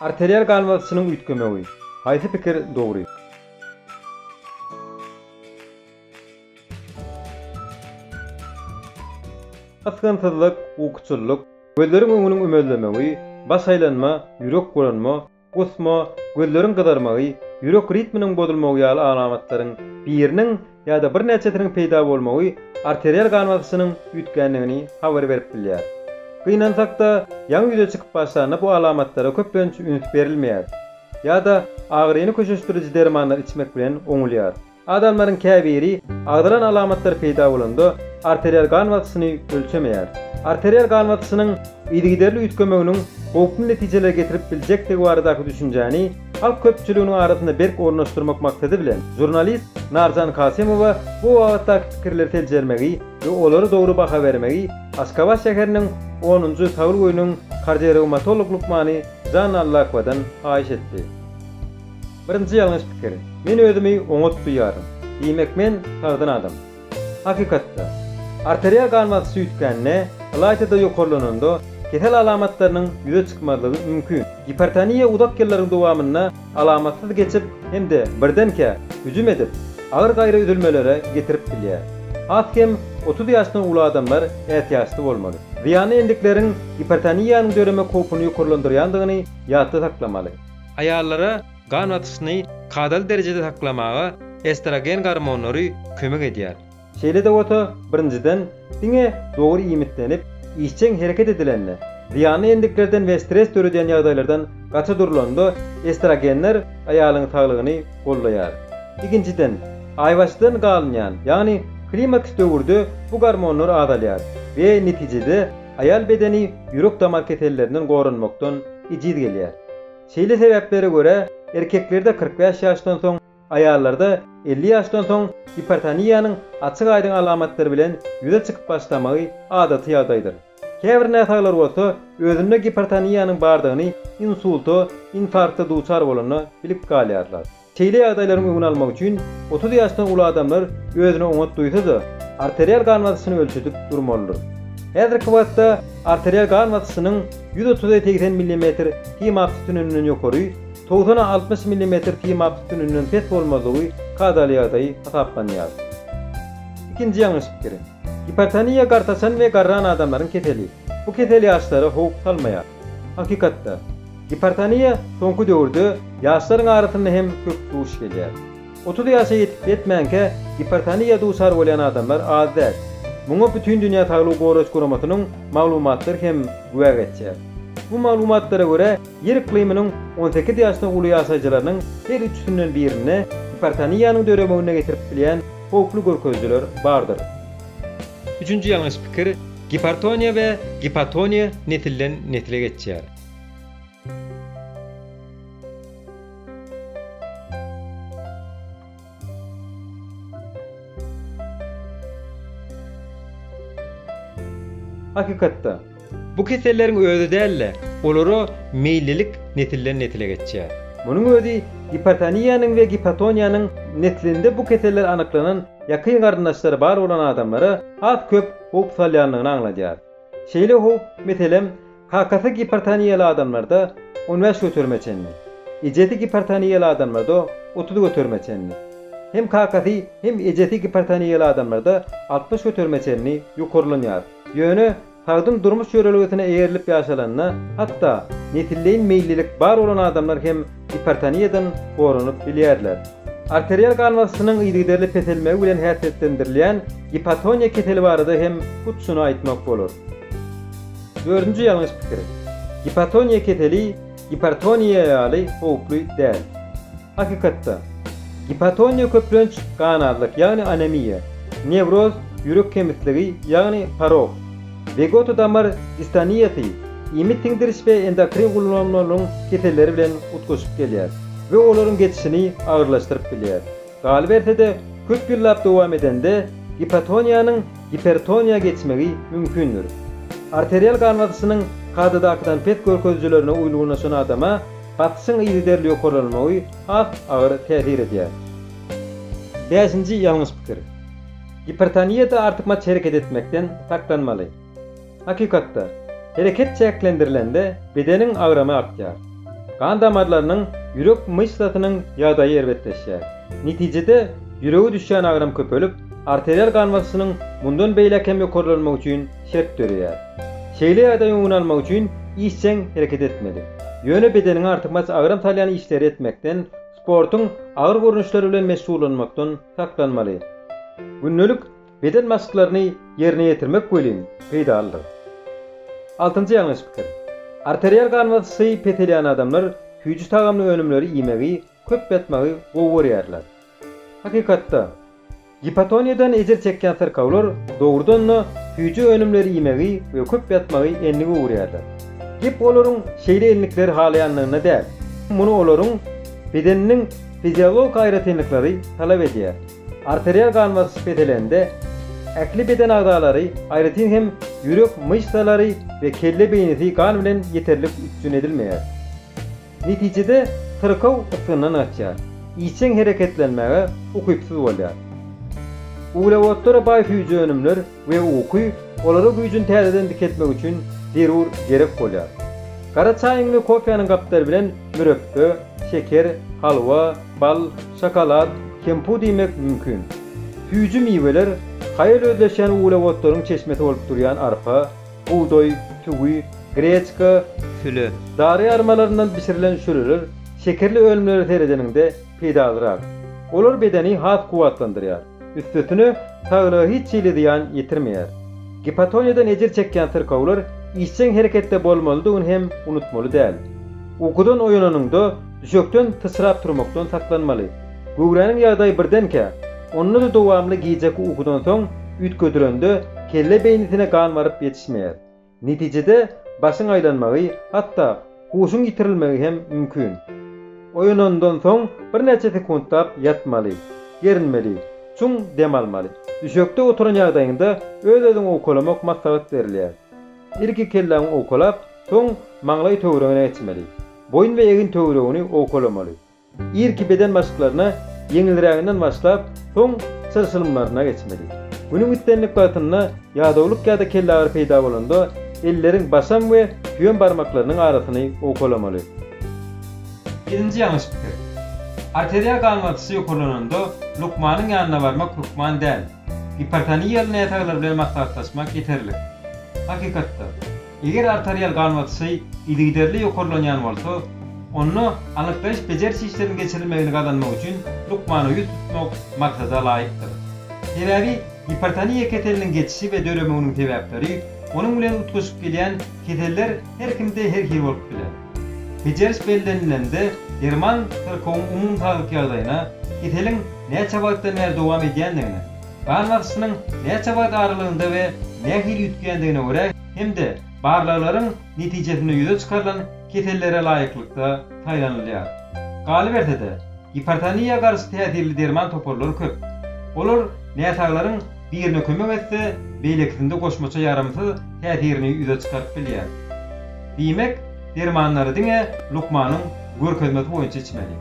Arterial gan basyşynyň üýtgemegi. Haýsy pikir dogry? Ysgynsyzlyk, ukuçyllyk, gözleriň öňüniň ümezlemegi, baş aýlanma, ýürek bulanma, Gusma, gözleriň gyzarmagy, ýürek ritminiň bozulmagy ýaly alamatlaryň biriniň ýa-da birnäçesiniň peýda bolmagy arterial gan basyşynyň üýtgändigini habar berip bilýär. Gynansak-da, ýaňy ýüze çykyp başlanda bu alamatlara köplenç üns berilmeýär ýa-da agyryny köşeşdiriji dermanlar içmek bilen oňulýar. Adamlaryň käbiri agzalan alamatlar peýda bolanda arterial gan basyşyny ölçemeýär. Arterial gan basyşynyň yzygiderli üýtgemeginiň howply netijelere getirip biljekdigi baradaky düşünjäni halk köpçüliginiň arasynda berk ornaşdyrmak maksady bilen, žurnalist Narjan Kasymowa bu babatdaky pikirleri seljermegi we olara dogry baha bermegi Aşgabat şäheriniň onunjy Taglyk öýüniň kardiorewmatolog lukmany Janna Allakowadan haýyş etdi. Birinji ýalňyş pikir, men özümi oňat duýýaryn, diýmek men sagdyn adam. Hakykatda, arterial gan basyşy üýtgände, ylaýta-da ýokarlananda kesel alamatlarynyň ýüze çykmazlygy mümkin. Gipertoniýa uzak ýyllaryň dowamynda alamatsyz geçip hem-de birdenkä hüjüm edip, agyr gaýry üzülmelere getirip bilýär. Has kem otuz ýaşdan uly adamlar ätiýaçly bolmaly. Zyýanly endikleriň gipertoniýanyň döremek howpuny ýokarlandyrýandygyny ýatda saklamaly. Aýallara gan basyşyny kadaly derejede saklamaga estrogen gormonlary kömek edýär. Şeýle-de bolsa, birinjiden, diňe dogry iýmitlenip, işjeň hereket edilende, zyýanly endiklerden we stres döredýän ýagdaýlardan gaça durlanda estrogenler aýalyň saglygyny goldaýar. Ikinjiden, aýbaşydan galynýan, ýagny klimaks döwürde bu gormonlar azalýar we netijede, Aýal bedeni ýürek-damar kesellerinden goranmakdan ejiz gelýär. Şeýle sebäplere görä, erkeklerde kyrk bäş ýaşdan soň, aýallarda elli ýaşdan soň gipertoniýanyň açyk-aýdyň alamatlary bilen ýüze çykyp başlamagy adaty ýagdaýdyr. Käbir näsaglar bolsa özünde gipertoniýanyň bardygyny insulta, infarkta duçar bolanda bilip galýarlar. Şeýle ýagdaýlaryň öňüni almak üçin otuz ýaşdan uly adamlar özüni oňat duýsa-da, arterial gan basyşyny ölçedip durmalydyr. Häzirki wagtda arterial gan basyşynyň ýüz otuza segsen millimetr simap sütüninden ýokary, togsana altmyş millimetr simap sütüninden pes bolmazlygy kadaly ýagdaý hasaplanýar. Ikinji ýalňyş pikir. Gipertoniýa gartaşan we garran adamlaryň keseli. Bu kesel ýaşlara howp salmaýar. Hakykatda. Gipertoniýa soňky döwürde ýaşlaryň arasynda hem köp duş gelýär. Otuz ýaşa ýetip-ýetmänkä gipertoniýa duçar bolýan adamlar az däl. Muňa Bütindünýä Saglygy Goraýyş Guramasynyň maglumatlary hem güwä geçýär. Bu maglumatlara görä, Ýer yklymynyň on sekiz ýaşdan uly ýaşaýjylarynyň her üçüsinden birinde gipertoniýanyň döremegine getirip bilýän howply görkezijiler bardyr. Üçünji ýalňyş pikir, Gipertoniýa we gipotoniýa nesilden nesle geçýär. Hakykatda, bu keselleriň özi däl-de, olara meýillilik nesilden-nesile geçýär. Munuň özi gipertoniýanyň we gipotoniýanyň neslinde bu keseller anyklanan ýakyn garyndaşlary bar bolan adamlara has köp howp salýandygyny aňladýar. Şeýle howp, meselem, Kakasy gipertoniýaly adamlarda on bäş göterime çenli, ejesi gipertoniýaly adamlarda otuz göterime çenli. Hem kakasy, hem ejesi gipertoniýaly adamlarda altmyş göterime çenli ýokarlanýar. Ýöne sagdyn durmuş ýörelgesine eýerilip ýaşalanda, hatda nesilleýin meýillilik bar bolan adamlar hem gipertoniýadan goranyp bilýärler. Arterial gan basyşynyň yzygiderli peselmegi bilen häsiýetlendirilýän gipotoniýa keseli barada hem hut şuny aýtmak bolar. Dördünji ýalňyş pikir. Gipotoniýa keseli gipertoniýa ýaly howply däl. Hakykatda, gipotoniýa köplenç gan azlyk, ýagny anemiýa, newroz, ýürek kemisligi, ýagny porok, wegoto damar distoniýasy, iýmit siňdiriş we endokrin gullanmalaryň keselleri bilen utgaşyp gelýär we olaryň geçişini agyrlaşdyryp bilýär. Galyberse-de, köp ýyllap dowam edende gipotoniýanyň gipertoniýa geçmegi mümkindir. Arterial gan basyşynyň kadadakydan pes görkezijilerine uýlgunlaşan adama basyşyň yzygiderli ýokarlanmagy has agyr täsir edýär. Bäşinji ýalňyş pikir. Gipertoniýada artykmaç hereket etmekden saklanmaly. Hakykatda, hereket çäklendirilende bedeniň agramy artýar. Gan damarlarynyň, ýürek myşsasynyň ýagdaýy erbetleşýär. Netijede, ýürege düşýän agram köpelip, arterial gan basyşynyň mundan beýläk hem ýokarlanmagy üçin şert döreýär. Şeýle ýagdaýyň öňüni almak üçin işjeň hereket etmeli. Ýöne bedeniňe artykmaç agram salýan işleri etmekden, sportuň agyr görnüşleri bilen meşgullanmakdan saklanmaly. Gündelik Beden maşklaryny ýerine ýetirmek welin peýdalydyr. Altynjy ýalňyş pikir. Arterial gan basyşy peselýän adamlar süýji tagamly önümleri iýmegi, köp ýatmagy gowy görýärler. Hakykatda, gipotoniýadan ejir çekýän syrkawlar dogrudan-da süýji önümleri iýmegi we köp ýatmagy endik öwürýärler. Gep olaryň şeýle endikleri halaýandygynda däl, muny olaryň bedeniniň fiziologik aýratynlyklary talap edýär. Arterial gan basyş peselende ähli beden agzalary, aýratyn hem ýürek myşsalary we kelle beýnisi gan bilen ýeterlik üpjün edilmeýär. Netijede syrkaw ysgyndan gaçýar, işjeň hereketlenmäge ukypsyz bolýar. Uglewodlara baý süýji önümler we uky olara güýjüni täzeden dikeltmek üçin zerur gerek bolýar. Gara çaýyň we kofäniň gapdary bilen mürepbe, şeker, halwa, bal, şokolad, kemput iýmek mümkin. Süýji miweler haýal özleşýän uglewodlaryň çeşmesi bolup durýan arpa, bugdaý, tüwi, greçka, süle, dary armalaryndan bişirilen şüreler şekerli önümlere seredeniňde peýdalyrak. Olar bedeni has kuwwatlandyrýar. Üstesine, saglyga hiç hili zyýan ýetirmeýär. Gipotoniýadan ejir çekýän syrkawlar işjeň hereketde bolmalydygyny hem unutmaly däl. Ukudan oýananyňda düşekden syçrap turmakdan saklanmaly. Göwräniň ýagdaýy birdenkä, onda-da dowamly gijeki ukudan soň üýtgedilende kelle beýnisine gan baryp ýetişmeýär. Netijede, başyň aýlanmagy, hatda huşuň ýitirilmegi hem mümkin. Oýanandan soň birnäçe sekuntlap ýatmaly, gerinmeli, çuň dem almaly. Düşekde oturan ýagdaýyňda öz-özüňi owkalamak maslahat berilýär. Ilki kelläňi owkalap, soň maňlaý töweregiňe geçmeli. Boýun we egin töweregini owkalamaly. Irki beden maşklaryna ýeňilräginden başlap, soň çylşyrymlaryna geçmeli. Günüň islendik wagtynda ýadawlyk ýa-da kellagyry peýda bolanda, elleriň başam we süýem barmaklarynyň arasyny owkalamaly. Birinji ýalňyş pikir. Arteriýa gan basyşy ýokarlananda lukmanyň ýanyna barmak hökman däl. Gipertoniýaly näsaglar bilen maslahatlaşmak ýeterlik. Hakykatda, Eger arterial gan basyşy yzygiderli ýokarlanýan bolsa, onda anyklaýyş-bejeriş işleriniň geçirilmegini gazanmak üçin lukmana ýüz tutmak maksada laýykdyr. Sebäbi gipertoniýa keseliniň geçişi we döremeginiň sebäpleri, onuň bilen utgaşyp gelýän keseller her kimde her hili bolup biler. Bejeriş bellenilende derman syrkawyň umumy saglyk ýagdaýyna, keseliň näçe wagtdan bäri dowam edýändigine, Gan basyşynyň näçe wagt aralygynda we nähili üýtgändigine görä hem-de barlaglaryň netijesinde ýüze çykarylan kesellere laýyklykda saýlanylýar. Galyberse-de, gipertoniýa garşy täsirli derman toparlary köp. Olar näsaglaryň birine kömek etse, beýlekisinde goşmaça ýaramsyz täsirini ýüze çykaryp bilýär. Diýmek, dermanlary diňe lukmanyň görkezmesi boýunça içmeli.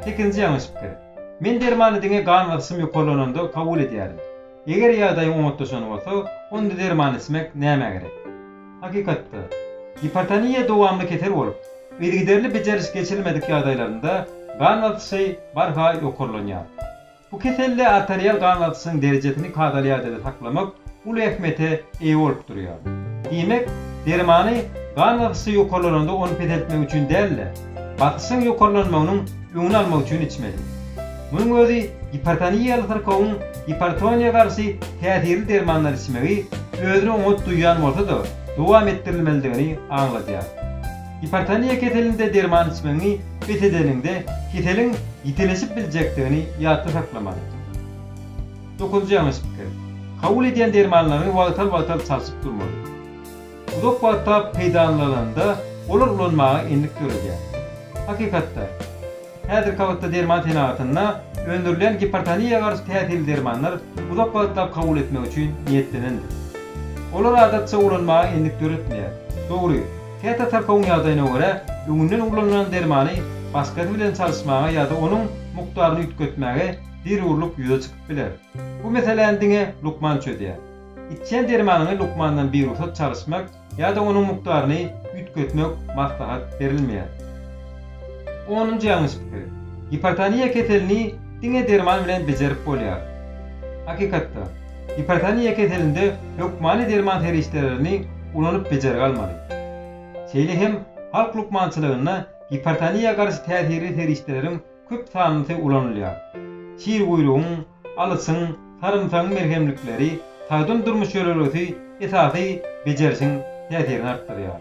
Sekizinji ýalňyş pikir. Men dermany diňe gan basyşym ýokarlananda kabul edýärin. Eger ýagdaýyň oňatlaşan bolsa, onda derman içmek nämä gerek? Hakykatda, gipertoniýa dowamly kesel bolup, yzygiderli bejeriş geçirilmedik ýagdaýlarynda gan basyşy barha ýokarlanýar. Bu keselde arterial gan basyşynyň derejesini kadaly ýagdaýda saklamak uly ähmiýete eýe bolup durýar. Diýmek, dermany gan basyşy ýokarlananda ony peseltmek üçin däl-de, basyşyň ýokarlanmagynyň öňüni almak üçin içmeli. Munuň özi gipertoniýaly syrkawyň gipertoniýa garşy täsirli dermandan içmegi özüni oňat duýýan bolsa-da dowam etdirilmelidigini aňladýar. Gipertoniýa keselinde derman içmegiňi bes edeniňde keseliň ýitileşip biljekdigini ýatda saklamaly. Dokuzynjy ýalňyş pikir. Kabul edýän dermanlaryňy wagtal-wagtal çalşyp durmaly. uzak wagtlap peýdalanylanda olar ulanmaga endik döredýär. Hakykatda, häzirki wagtda derman senagatynda öndürilýän gipertoniýa garşy täsirli dermanlar uzak wagtlap kabul etmek üçin niýetlenendir. Olar adatça ulanmaga endik döretmeýär. Dogry, käte tarkawyň ýagdaýyna görä öňünden ulanylan dermany başgasy bilen çalyşmaga ýa-da onuň mukdaryny üýtgetmäge zerurlyk ýüze çykyp biler. Bu meseläni diňe lukman çözýär. Içýän dermanyňy lukmandan birugsat çalyşmak ýa-da onuň mukdaryny üýtgetmek maslahat berilmeýär. Onunjy ýalňyş pikir. Gipertoniýa keselini diňe derman bilen bejerip bolýar. Hakykatda, gipertoniýa keselinde hökmany derman serişdelerini ulanyp bejergi almaly. Şeýle hem halk lukmançylygynda gipertoniýa garşy täsirli serişdeleriň köp sanlysy ulanylýar. Şirguýrugyň, alysyň, sarymsagyň merhemlikleri sagdyn durmuş ýörelgesi esasy bejerişiň täsirini artdyrýar.